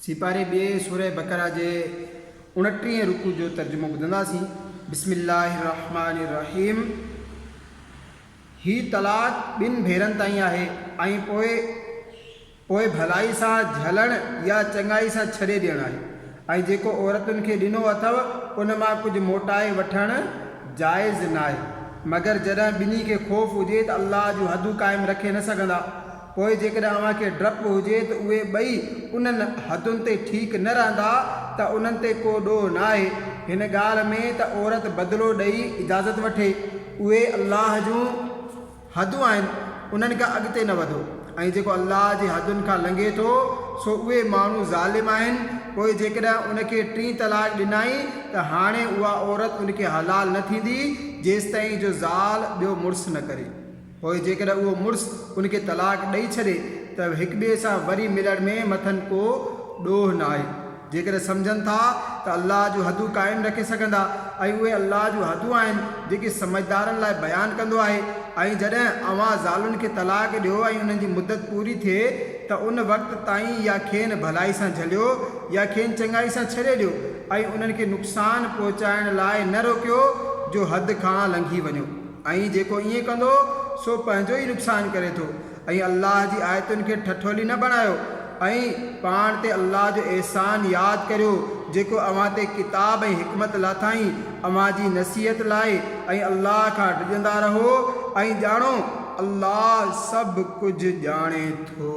سيپاري ٻئي سورة بقرة جي اڻٽيهين رڪوع جو ترجمو ٻڌنداسين، بسم الله الرحمٰن الرحيم هي طلاق ٻن ڀيرن تائين آهي ۽ پوء پوء ڀلائي سان جهلڻ يا چڱائي سان ڇڏي ڏيڻ آهي ۽ جيڪو عورتن کي ڏنو اٿئو ان مان ڪجهه موٽائي وٺڻ جائز ناهي مگر جڏهن ٻنهي کي خوف هجي ته الله جون حدون قائم رکي نه سگهندا. پوء جيڪڏهن اوهان کي ڊپ هجي ته اهي ٻئي انهن حدن تي ٺيڪ نه رهندا ته انهن تي ڪو ڏوهه ناهي هن ڳالهه ۾ ته عورت بدلو ڏئي اجازت وٺي. اهي الله جون حدون آهن انهن کان اڳتي نه وڌو ۽ جيڪو الله جي حدن کان لنگهي ٿو سو اهي ماڻهو ظالم آهن پوء جيڪڏهن ان کي ٽين طلاق ڏنائين ته هاڻي اها عورت ان کي حلال نه ٿيندي جيستائين جو زال ٻيو مڙس نه ڪري. پوء جيڪڏهن اهو مڙس ان کي طلاق ڏئي ڇڏي ته هڪٻئي سان وري ملڻ ۾ مٿن ڪو ڏوهه ناهي. جيڪڏهن سمجهن ٿا ته الله جون حدون قائم رکي سگهندا ۽ اهي الله جون حدون آهن جيڪي سمجهدارن لاء بيان ڪندو آهي ۽ جڏهن اوهان زالن کي طلاق ڏيو ۽ انهن جي مدت پوري ٿئي ته ان وقت تائين يا کين ڀلائي سان جهليو يا کين چڱائي سان ڇڏي ڏيو ۽ انهن کي نقصان پهچائڻ لاء نه روڪيو جو حد کان لنگهي وڃو. ۽ جيڪو ائين ڪندو سو پنهنجو ئي نقصان ڪري ٿو ۽ الله جي آيتن کي ٺٺولي نه بڻايو ۽ پاڻ تي الله جو احسان ياد ڪريو جيڪو اوهان تي ڪتاب ۽ حڪمت لاٿائين اوهان جي نصيحت لاء ۽ الله کان ڊڄندا رهو ۽ ڄاڻو الله سڀ ڪجهه ڄاڻي ٿو.